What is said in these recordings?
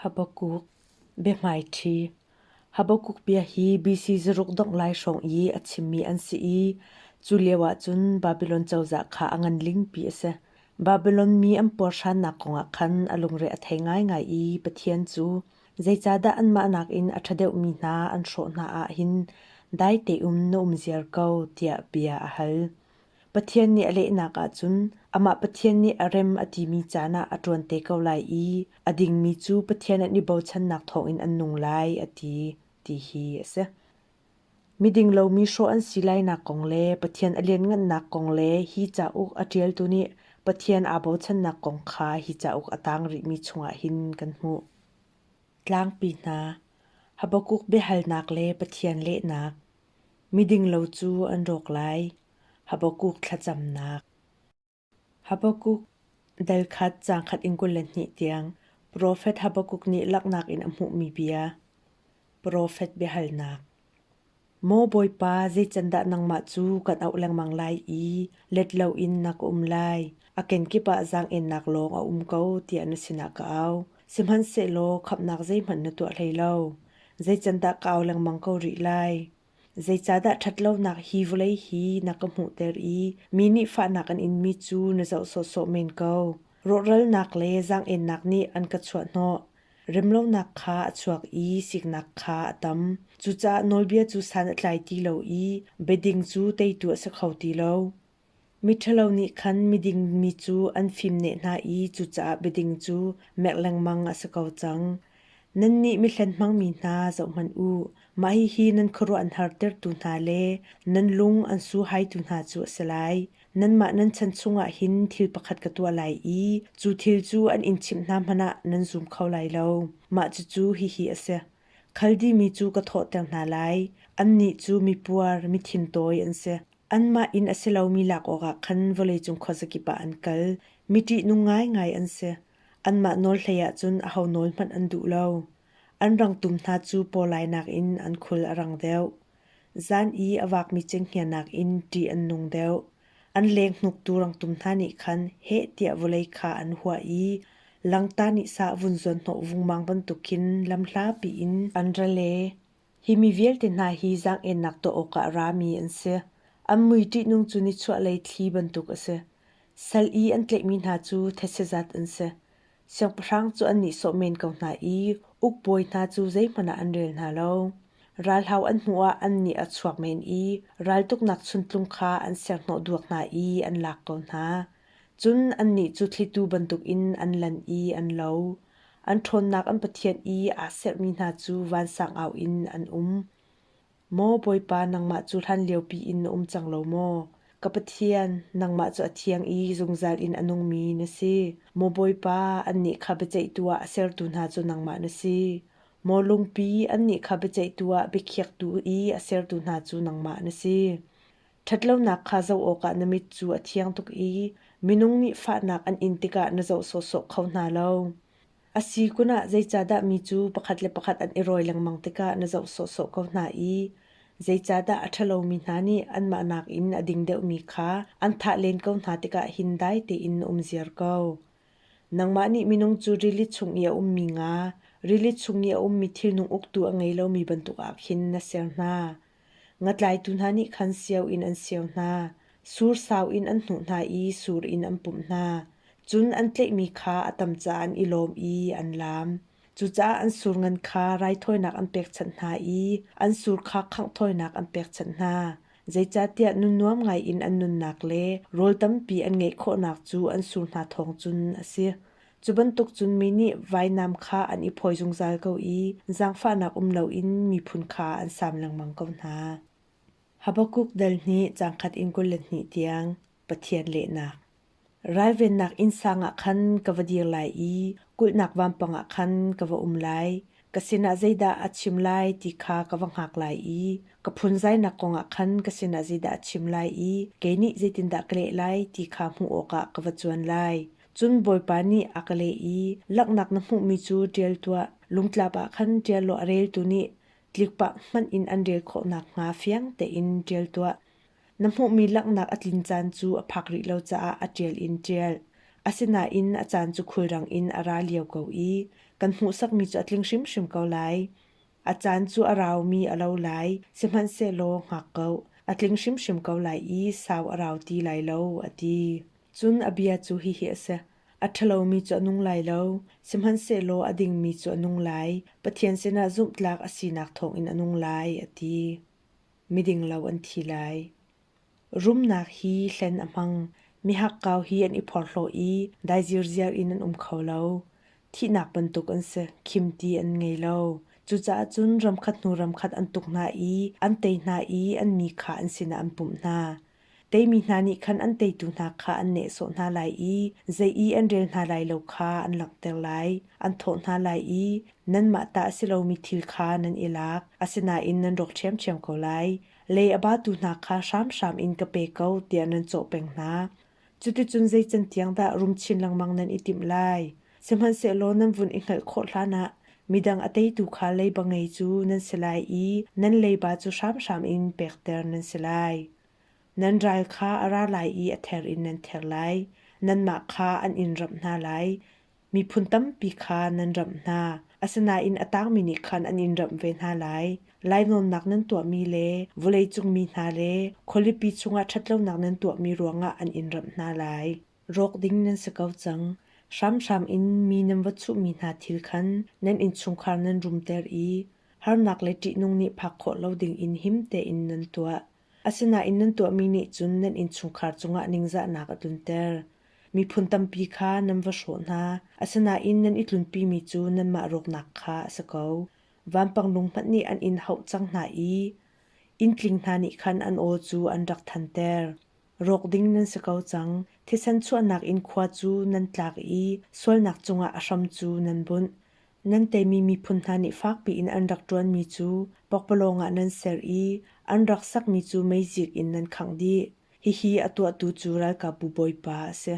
Habakuk biahmaiṭhi Habakuk bia hi BC zaruk dongh lai hrawng i a chimmi an si i cu lioah cun Babilon cozah kha a ngan lingpi a si. Babilon mi an puarhrannak kongah khan a lungre a thei ngaingai i Pathian cu zeicahdah anmah nakin a ṭha deuhmi hna an hrawh hna ah hin dai tein na um ziar ko tiah bia a hal. Pathian nih a lehnak ahcun amah Pathian nih a rem a timi caan ah a ṭuan te ko lai i a dingmi cu Pathian an i bochannak thawngin an nung lai a ti ti hi a si. Miding lomi hrawh an si lainak kong le Pathian a lianngannak kong le hi cauk a ṭialtu nih Pathian aa bochannak kong kha hi cauk a tang rihmi chungah hin kan hmuh. Tlangpi hna, Habakuk biahalnak le Pathian lehnak Midinglo cu an rawk lai. Habakuk thlacamnak. Habakuk dalkhat caang khat in kul le hnih tiang profet Habakuk nih laknak in a hmuhmi bia. Profet biahalnak. Maw Bawipa, zeicandah nangmah cu kan auh lengmang lai i let loin na ka um lai? A kenkip ah zaang-ennak lawng a um ko tiah na sinah ka au. Sihmanhsehlaw khamhnak zeihmanh na tuah hlei lo. Zeicandah ka au lengmang ko rih lai? Zeicahdah ṭhatlonak hi vawlei hi na ka hmuhter i mi nih fahnak an inmi cu na zoh sawhsawh men ko? Rawhralnak le zaang-ennak nih an ka chuahhnawh. Remlonak kha a chuak i siknak kha a tam. Cucaah nawlbia cu san a tlai ti lo i biading cu teitu a si kho ti lo. Miṭhalo nih khan miding mi cu an fimneh hna i cucaah biading cu mek lengmang a si ko cang. Nannih mihlen hmangmi hna zohhmanh u, mah hihi nan khuaruahhartertu hna le nan lung an suhaitu hna cu a si lai. Nanmah nan chan chungah hin thil pakhat ka tuah lai i cu thil cu an in chimh hna hmanh ah nan zum kho lai lo. Mah cucu hihi a si: Khaldimi cu ka thawhter hna lai, annih cu mipuar, mithintoi an si. Anmah inn a si lomi lak awkah khan vawleicung khuazakip ah an kal. Mi ṭihnung ngaingai an si. Anmah nawl hlei ahcun aho nawl hmanh an duh lo. An rangtum hna cu pawlainak in an khul a rang deuh. Zan i a vakmi cenghngianak in ṭih an nung deuh. An lenghnuktu rangtum hna nih khan heh tiah vawlei kha an huah i langta nih sah vun zuanhnawh vungmang bantukin lamhlapi in an ra le. Hi mi vialte hna hi zaang-ennak tuah awkah rami an si. An mui ṭihnung cu nichuahlei thli bantuk a si. Sal i an tlaihmi hna cu thetse zat an si. Siangpahrang cu annih sawh men ko hna i ukbawi hna cu zeihmanh ah an rel hna lo. Ralhau an hnuah annih a chuak men i raltuknak chuntlung kha an serhnawh duak hna i an lak ko hna. Cun annih cu thlitu bantukin an lan i an lo. An ṭhawnnak an Pathian i aa sermi hna cu vansang au in an um. Maw Bawipa nangmah cu hlanlio piin na um cang lo maw? Ka Pathian, nangmah cu a thiang i zungzal in a nungmi na si. Maw Bawipa, annih kha biaceihtu ah a sertu hna cu nangmah na si. Maw lungpi, annih kha biaceihtu ah biakhiaktu i a sertu hna cu nangmah na si. Ṭhatlonak kha zoh awkah na mit cu a thiang tuk i minung nih fahnak an in tikah na zoh sawhsawh kho hna lo. A si kun ah zeicahdah mi cu pakhat le pakhat an i rawi lengmang tikah na zoh sawhsawh ko hna i zeicahdah a ṭhalomi hna nih anmah nakin a ding deuhmi kha an thah len ko hna tikah hin dai tein na um ziar ko. Nangmah nih minung cu rili chung i a ummi nga, rili chung i a ummi thilnung uktu a ngei lomi bantuk ah khin na ser hna. Ngatlaitu hna nih khan sio in an sio hna, sursau in an hnuh hna i sur in an pumh hna. Cun an tlaihmi kha a tam caah an i lawm i an laam. Cucaah an sur ngan kha raithawinak an pekchanh hna i an sur kha khanghthawinak an pekchanh hna. Zeicahtiah nunnuam ngaiin an nunnak le rawl tampi an ngeih khawhnak cu an sur hna thawng cun a si. Cu bantuk cun mi nih vainam kha an i phawi zungzal ko i zaangfahnak um loin miphun kha an sam lengmang ko hna. Habakuk dal nih cangkhat in kul le hnih tiang Pathian lehnak. Ralvennak innsang ah khan ka va dir lai i kulhnak vampang ah khan ka va um lai. Ka sinah zeidah a chim lai ti kha ka va hngak lai i ka phunzainak kongah khan ka sinah zeidah a chim lai i kei nih zeitindah ka leh lai ti kha hmuh awkah ka va cuan lai. Cun Bawipa nih a ka leh i, Langhnak na hmuhmi cu ṭial tuah, lungtlap ah khan ṭial law a reltu nih tlikpah hmanh in an rel khawh nakhnga fiang tein ṭial tuah. Na hmuhmi langhnak a tlin caan cu a phak rih lo caah a ṭial in ṭial. Asinain a caan cu khulrang in a ra lio ko i kan hmuhsakmi cu a tling hrimhrim ko lai. A caan cu a raumi a lo lai, sihmanhsehlaw ngak ko, a tling hrimhrim ko lai i sau a rau ti lai lo, a ti. Cun a bia cu hihi a si: A ṭhalomi cu a nung lai lo, sihmanhsehlaw a dingmi cu a nung lai, Pathian sinah zumhtlak a sinak thawngin a nung lai, a ti. Miding lo an thi lai. Rumnak hi hlen a hmang, mihakkau hi an i phorhlaw i daizirziar in an um kho lo. Thihnak bantuk an si, khimti an ngei lo. Cucaah cun ramkhat hnu ramkhat an tuk hna i an tei hna i an mi kha an sinah an pumh hna. Teimi hna nih khan an teitu hna kha an nehsawh hna lai i zei i an rel hna lai lo kha an langhter lai. An thawh hna lai i, Nanmah ta a si lomi thil kha nan i lak, asinain nan rawk ṭhiamṭhiam ko lai. Le a batu hna kha hramhram in ka pe ko, tiah nan cawh peng hna. Cuticun zei can tiang dah rum chin lengmang nan i timh lai? Sihmanhsehlaw nan vun i hngalh khawh hlanah midang a teitu kha leiba ngei cu nan si lai i nan leiba cu hramhram in pekter nan si lai. Nan ral kha a ra lai i a ther in nan ther lai. Nanmah kha an in ramh hna lai. Miphun tampi kha nan ramh hna. Asinain a tangmi nih khan an in ramh ve hna lai. Lainawnnak nan tuahmi le vawleicung mi hna le khualipi chungah ṭhatlonak nan tuahmi ruangah an in ramh hna lai. rawk ding nan si ko cang. Hramhram in mi nan va chuhmi hna thil khan nan innchungkhar nan rumter i harnak le ṭihnung nih phak khawh lo dingin him tein nan tuah. Asinain nan tuahmi nih cun nan innchungkhar cungah ningzahnak a tlunter. Miphun tampi kha nan va hrawh hna, asinain nan i tlunpimi cu nanmah rawknak kha a si ko. Vanpanglung hmanh nih an in hauh cang hna i inntling hna nih khan an aw cu an rak thanter. Rawk ding nan si ko cang. Thisen chuahnak in khua cu nan tlak i sualnak cungah a hram cu nan bunh. Nan teimi miphun hna nih fakpi in an rak ṭuanmi cu pokpalawng ah nan ser i an rak sakmi cu meizik in nan khangh dih. Hihi a tuahtu cu ralkapbu Bawipa a si.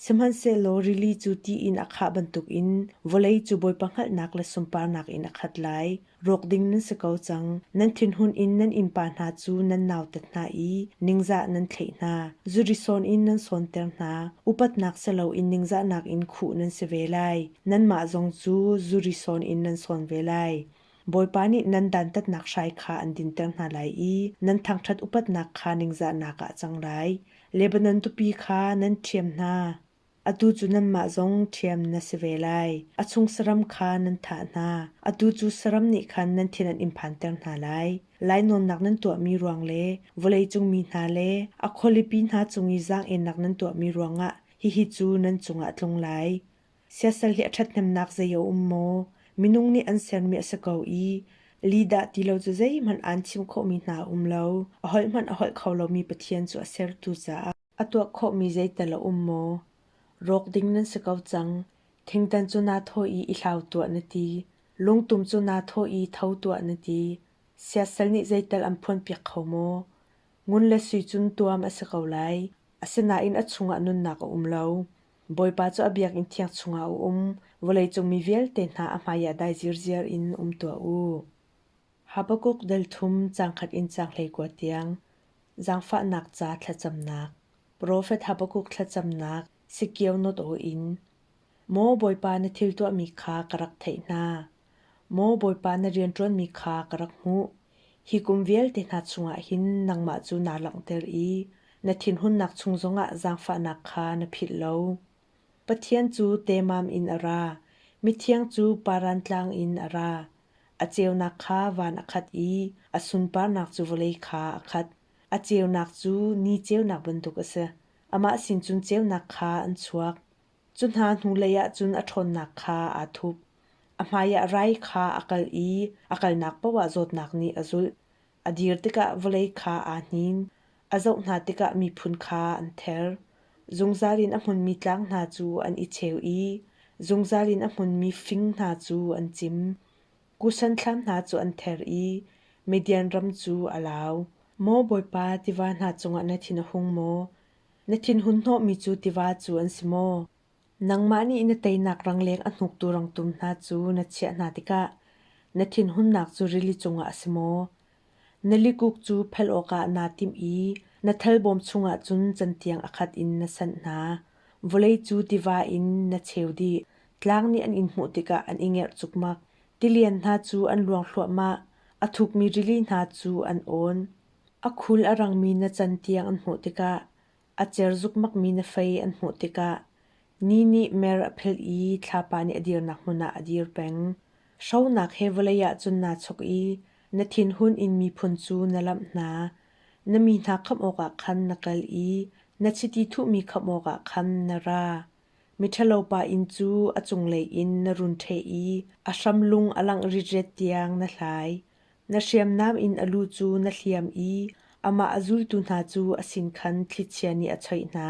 Sihmanhsehlaw rili cu ti in a khah bantukin vawlei cu bawipa hngalhnak le sunparnak in a khat lai. Rawk ding nan si ko cang. Nan thinhun in nan innpa hna cu nan nautat hna i ningzah nan thlaih hna. Zuri sawn in nan sawnter hna. Upatnak si loin ningzahnak in khuh nan si ve lai. Nanmah zong cu zuri sawn in nan sawn ve lai. Bawipa nih nan dantatnak hrai kha an dinter hna lai i nan thangṭhat upatnak kha ningzahnak ah a cang lai. Lebanon tupi kha nan ṭhiam hna. Atu cu nanmah zong ṭhiam na si ve lai. A chung saram kha nan thah hna. Atu cu saram nih khan nan thin an in phanter hna lai. Lainawnnak nan tuahmi ruang le vawleicung mi hna le a khualipi hna cung i zaang-ennak nan tuahmi ruangah hihi cu nan cungah a tlung lai. Siasal hi a ṭhathnemnak zei a um maw? Minung nih an sermi a si ko i lihdah ti lo cu zeihmanh aan chim khawhmi hna a um lo. A hoihmanh a holh kho lomi Pathian cu a sertu caah a tuah khawhmi zeital a um maw? Rawk ding nan si ko cang. Thingtan cu naa thawh i i hlau tuah na ti. Lungtum cu naa thawh i tho tuah na ti. Siasal nih zeital an phuanpiak kho maw? Ngun le sui cun tuam a si ko lai, asinain a chungah nunnak a um lo. Bawipa cu a biakinn thiang chungah a um, vawleicung mi vialte hna a hmaiah dai zirziar in um tuah u. Habakkuk delthum cangkhat in canghlei tiang, zangfahnak ca thlacamnak, profet Habakkuk thlacamnak Sikio not aw in, Maw Bawipa na thil tuahmi kha ka rak theih hna. Maw Bawipa na rianṭuanmi kha ka rak hmuh, hi kum vialte hna chungah hin nangmah cu naa langhter i na thinhunnak chung zongah zaangfahnak kha na philh lo. Pathian cu temam in a ra, mithiang cu paran tlang in a ra. A ceunak kha van a khat i a sunparnak cu vawlei kha a khat. A ceunak cu ni ceunak bantuk a si, amah sin cun ceunak kha an chuak. Cu hna hnulei ah cun a ṭhawnnak kha aa thup. A hmaiah rai kha a kalh i a kalnak paoh ah zawtnak nih a zulh. A dir tikah vawlei kha aa hnin, a zoh hna tikah miphun kha an ther. Zungzal in a hmunmi tlang hna cu an i cheu i zungzal in a hmunmi fing hna cu an cim. Kushan thlam hna cu an ther i Midian ram cu a lau. Maw Bawipa, tiva hna cungah na thin a hung maw? Na thinhun hnawhmi cu tiva cu an si maw? Nangmah nih na teinak rangleng a hnuktu rangtum hna cu na chiah hna tikah na thinhunnak cu rili cungah a si maw? Na likuk cu phel awkah naa timh i na thalbawm chungah cun cantiang a khat in na sanh hna. Vawlei cu tiva in na cheu dih. Tlang nih an in hmuh tikah an i ngerh cukmak. Tilian hna cu an luang thluahmah, a thukmi rili hna cu an awn. A khul a rangmi na can tiang an hmuh tikah, a cer zukmakmi na fei an hmuh tikah, ni nih mer a phelh i thlapa nih a dirnak hmun ah a dir peng. Hronak he vawlei ah cun naa chuk i na thinhun in miphun cu na lamh hna. Na mi hna khamh awkah khan na kal i na chiti thuhmi khamh awkah khan na ra. Miṭhalopa inn cu a cunglei in na run ṭheh i a hram lung a langh ritret tiang na hlai. Na hriamnam in a lu cu na hliam i amah a zultu hna cu a sin khan thlichia nih a choih hna.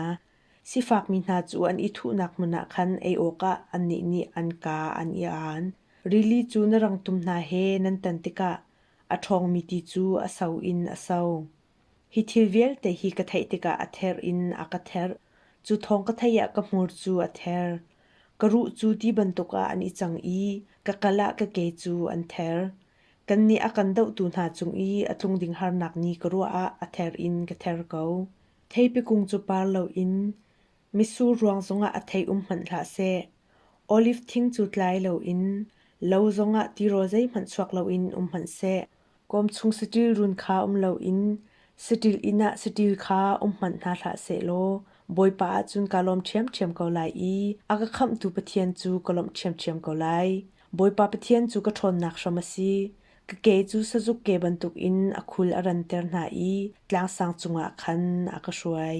Sifakmi hna cu an i thuhnak hmun ah khan ei awkah annih nih an kaa an i aan. Rili cu na rangtum hna he nan tan tikah a ṭhawngmi ti cu a so in a so. Hi thil vialte hi ka theih tikah a ther in a ka therh. Cu thawng ka theih ah ka hmur cu a ther. Ka ruh cu ti bantuk ah an i cang i ka kal ah ka ke cu an ther. Kannih a kan dohtu hna cung i a tlung ding harnak nih ka ruah ah a ther in ka ther ko. Theipi kung cu par loin mitsur ruang zongah a thei um hmanh hlah seh. Oliv thing cu tlai loin lo zongah tirawl zeihmanh chuak loin um hmanh seh. Kawmchung saṭil run kha um loin saṭil inn ah saṭil kha um hmanh hna hlah sehlaw Bawipa ahcun kaa lawm ṭhiamṭhiam ko lai i a ka khamhtu Pathian cu ka lawmh ṭhiamṭhiam ko lai. Bawipa Pathian cu ka ṭhawnnak hram a si. Ka ke cu sazuk ke bantukin a khul a ranter hna i tlangsang cungah khan a ka hruai.